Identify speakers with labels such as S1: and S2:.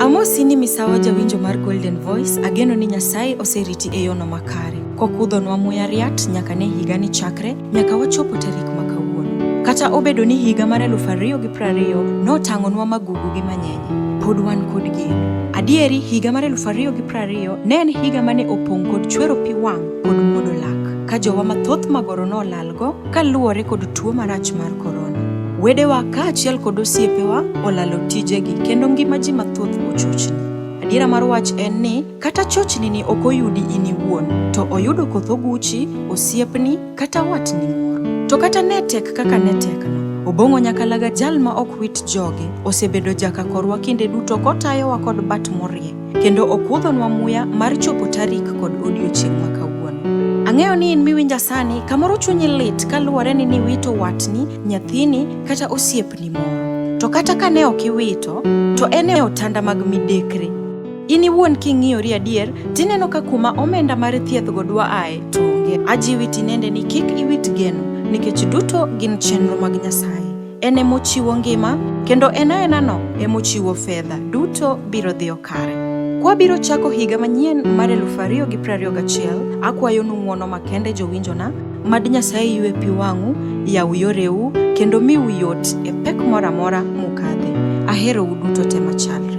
S1: Amosi ni misawa jawinjo mar Golden Voice, ageno ni Nyasaye oseriti e yono makare, kokudhonwa muya riat nyaka ne higa ni chakre nyaka wachopo tarik ma kawuono. Kata obedo ni higa mar eluf ariyo gi prariyo notang'onwa magugu gi manyenye, pod wan kod geno. Adieri, higa mar eluf ariyo gi prariyo ne en higa mane opong' kod chwero pi wang' kod muodo lak, ka jowa mathoth magoro nolalgo Kaluwore kod tuo marach mar korona, wedewa kaachiel kod osiepewa olalo tijegi kendo ngima ji mathoth ochochni. Adiera mar wach en ni kata chochni ni ok oyudi in iwuon, to oyudo koth oguchi, osiepni, kata watni moro. To kata ne tek kaka ne tekno, Obong'o Nyakalaga jal ma ok wit joge, osebedo jaka korwa kinde duto kotayowa kod bat morie. kendo okuodhonwa muya mar chopo tarik kod odiochieng' ma kawuono. Ang'eyo ni in miwinja sani, kamoro chunyi lit kaluwore ni niwito watni, nyathini, kata osiepni moro. To kata ka ne ok iwito, to en e otanda mag midekre. In iwuon king'iyori adier, tineno ka kuma omenda mar thiethgo dwa ae to onge. Ajiwi tinende ni kik iwit geno, nikech duto gin chenro mag Nyasaye. en e mochiwo ngima, kendo en aenano e mochiwo fedha. Duto biro dhiyo kare. Kwabiro chako higa manyien mar 2021, akwayonu ng'wono makende jowinjona, mad Nyasaye ywe pi wang'u, yaw yoreu, kendo miu yot e pek moro amora mukadhe. Aherou duto te machalre.